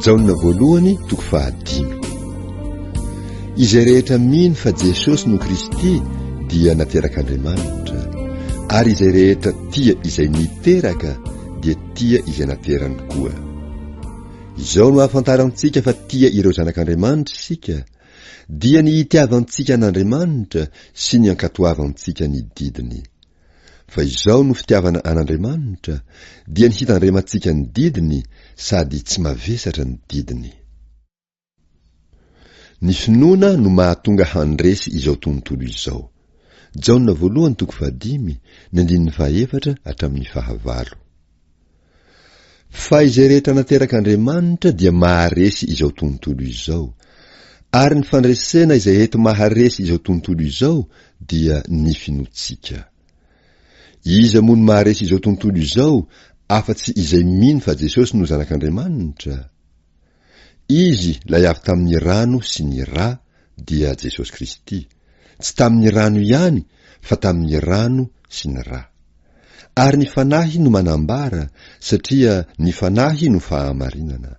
Jaona voalohany toko fahadimy. Izay rehetra mino fa Jesosy no Kristy dia naterak'Andriamanitra, ary izay rehetra tia izay niteraka dia tia izay naterany koa. Izao no ahafantarantsika fa tia ireo zanak'Andriamanitra isika, dia ny itiavantsika an'Andriamanitra sy ny ankatoavantsika ny didiny. Fa izao no fitiavana an'Andriamanitra, dia ny hitandremantsika ny didiny sady tsy mavesatra ny didiny. Ny finoana no mahatonga handresy izao tontolo izao. Jaona voalohany toko fahadimy, ny andininy fahaefatra hatramin'ny fahavalo. Fa izay rehetra naterak'Andriamanitra dia maharesy izao tontolo izao. Ary ny fandresena izay ety maharesy izao tontolo izao dia ny finoantsika. Iza moa no maharesy izao tontolo izao afa-tsy izay mino fa Jesosy no Zanak'Andriamanitra? Izy lay avy tamin'ny rano sy ny ra dia Jesosy Kristy, tsy tamin'ny rano ihany fa tamin'ny rano sy ny ra. Ary ny Fanahy no manambara satria ny Fanahy no fahamarinana.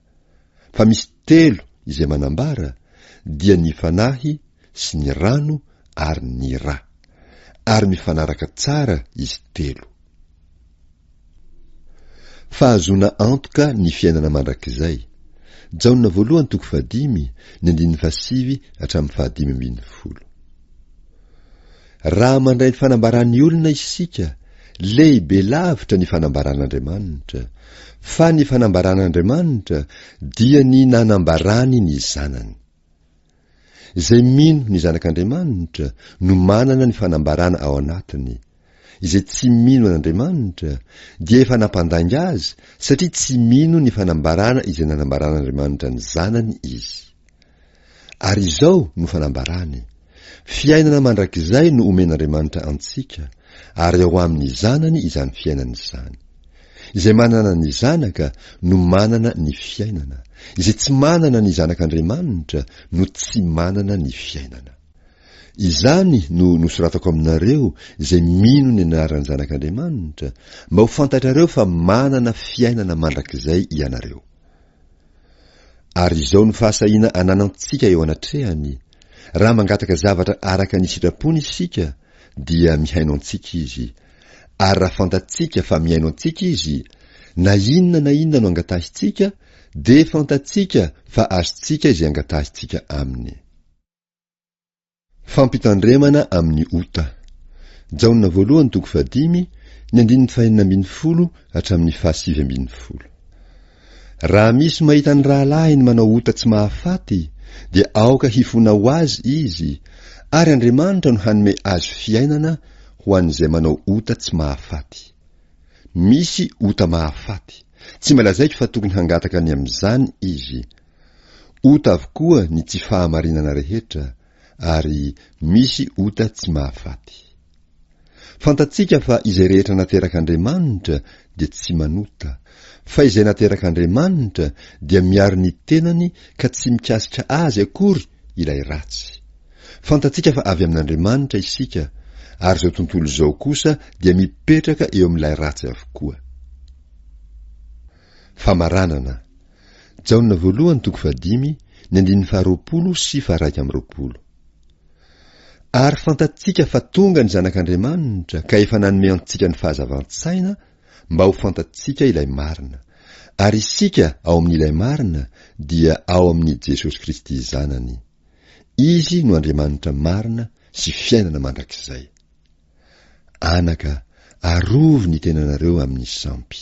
Fa misy telo izay manambara dia ny Fanahy sy ny rano ary ny ra. Ary mifanaraka tsara izy telo. Fahazoana antoka ny fiainana mandrakizay. Jaona voalohany toko fahadimy, ny andininy fahasivy hatramin'ny fahadimy ambin'ny folo. Raha mandray ny fanambaran'ny olona isika, lehibe lavitra ny fanambaran'Andriamanitra, fa ny fanambaran'Andriamanitra dia ny nanambarany ny Zanany. Izay mino ny Zanak'Andriamanitra no manana ny fanambarana ao anatiny. Izay tsy mino an'Andriamanitra dia efa nampandainga Azy satria tsy mino ny fanambarana izay nanambaran'Andriamanitra ny Zanany izy. Ary izao no fanambarany, Fiainana mandrakizay no omen'Andriamanitra antsika, ary ao amin'ny Zanany izany fiainana izany. Izay manana ny Zanaka no manana ny fiainana, izay tsy manana ny Zanak'Andriamanitra no tsy manana ny fiainana. Izany no nosoratako aminareo izay mino ny anaran'ny Zanak'Andriamanitra, mba ho fantatrareo fa manana fiainana mandrakizay ianareo. Ary izao no fahasahiana ananantsika eo anatrehany, raha mangataka zavatra araka ny sitrapony isika dia mihaino antsika Izy, ary raha fantatsika fa mihaino antsika Izy, na inona na inona no angatahintsika dia fantatsika fa azontsika izay angatahintsika Aminy. Fampitandremana amin'ny ota. Jaona voalohany toko fahadimy, ny andininy fahenina ambin'ny folo hatramin'ny fahasivy ambin'ny folo. Raha misy mahita ny rahalahiny manao ota tsy mahafaty, dia aoka hifona ho azy izy, ary Andriamanitra no hanome azy fiainana ho an'izay manao ota tsy mahafaty. Misy ota mahafaty, tsy malazaiko fa tokony hangataka ny amin'izany izy. Ota avokoa ny tsy fahamarinana rehetra, ary misy ota tsy mahafaty. Fantatsika fa izay rehetra naterak'Andriamanitra dia tsy manota, fa izay naterak'Andriamanitra dia miaro ny tenany ka tsy mikasika azy akory ilay ratsy. Fantatsika fa avy amin'Andriamanitra isika, ary izao tontolo izao kosa dia mipetraka eo amin'ilay ratsy avokoa. Famaranana, Jaona voalohany toko fahadimy, ny andininy faharoapolo sy faharaika amby roapolo. Ary fantatsika fa tonga ny Zanak'Andriamanitra ka efa nanome antsika ny fahazavan-tsaina mba ho fantatsika ilay marina, ary isika ao amin'ilay marina dia ao amin'i Jesosy Kristy Zanany. Izy no Andriamanitra marina sy fiainana mandrakizay. Anaka, arovy ny tenanareo amin'ny sampy.